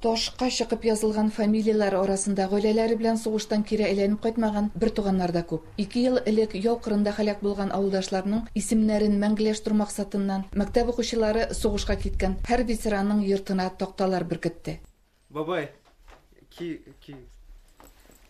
Ташка чыкып язылган фамилияләр арасында гаиләләре белән сугыштан кире әйләнеп кайтмаган бертуганнар да күп. Ике ел элек яу кырында һәлак булган авылдашларның исемнәрен мәңгеләштерү максатыннан, мәктәп укучылары сугышка киткән һәр ветеранның йортына такталар беркетте. Бабай, ки, ки.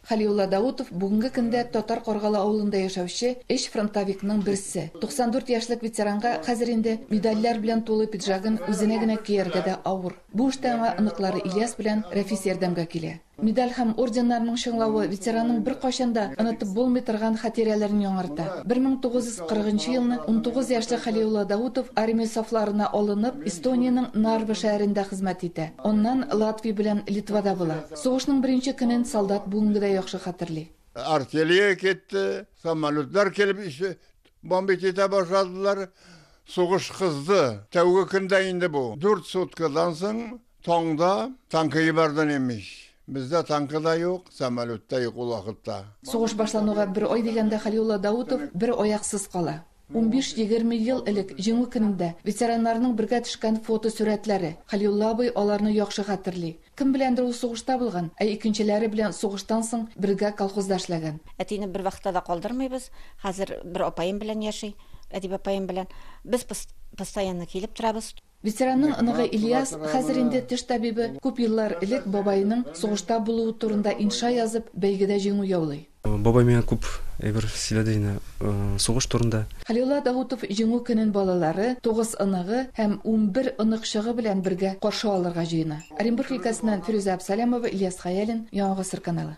Хәлиулла Даутов, бүгенге көндә Татар Каргалы авылында яшәүче өч фронтовикның берсе. 94 яшьлек ветеранга хәзер инде медальләр белән тулы пиджагын үзенә генә кияргә дә авыр. Бу эштә аңа оныклары Ильяс белән Рәфис ярдәмгә килә. Медаль һәм орденнарның чыңлавы ветеранның беркайчан да онытып булмый торган хатирәләрен яңарта. 1940 нчы елны унтугыз яшьлек Хәлиулла Даутов армия сафларына алынып, Эстониянең Нарва шәһәрендә хезмәт итә. Аннан Латвия белән Литвада була. Сугышның беренче көнен солдат бүгенге дә яхшы хәтерли. Артиллерия китте, самолетлар килеп бомбить итә башладылар. Сугыш кызды. Тәүге көндә инде бу. Дүрт суткадан соң таңда танкы ебәрден имеш. Бездә танкы да юк, самолет та юк ул вакытта. Сугыш башлануга бер ай дигәндә Хәлиулла Даутов бер аяксыз кала. Унбиш-егерме ел элек Җиңү көнендә ветераннарның бергә төшкән фотосурәтләре. Хәлиулла абый аларны яхшы хәтерли. Кем беләндер ул сугышта булган, ә икенчеләре белән сугыштан соң бергә колхозда эшләгән. Әтине бер вакытта да калдырмыйбыз. Хәзер бер апаем белән яши, Әдиб апаем белән. Без постоянно килеп торабыз. Ветеранның оныгы Ильяс хәзер инде теш табибы, күп еллар элек бабаеның сугышта булуы турында инша язып, бәйгедә җиңү яулый. Бабай миңа күп әйбер сөйләде инде сугыш турында. Хәлиулла Даутов Җиңү көнен балалары, тугыз оныгы һәм унбер оныкчыгы белән бергә каршы алырга җыена. Оренбург өлкәсеннән Фирүзә Абсалямова, Ильяс Хәялин, Яңа гасыр каналы.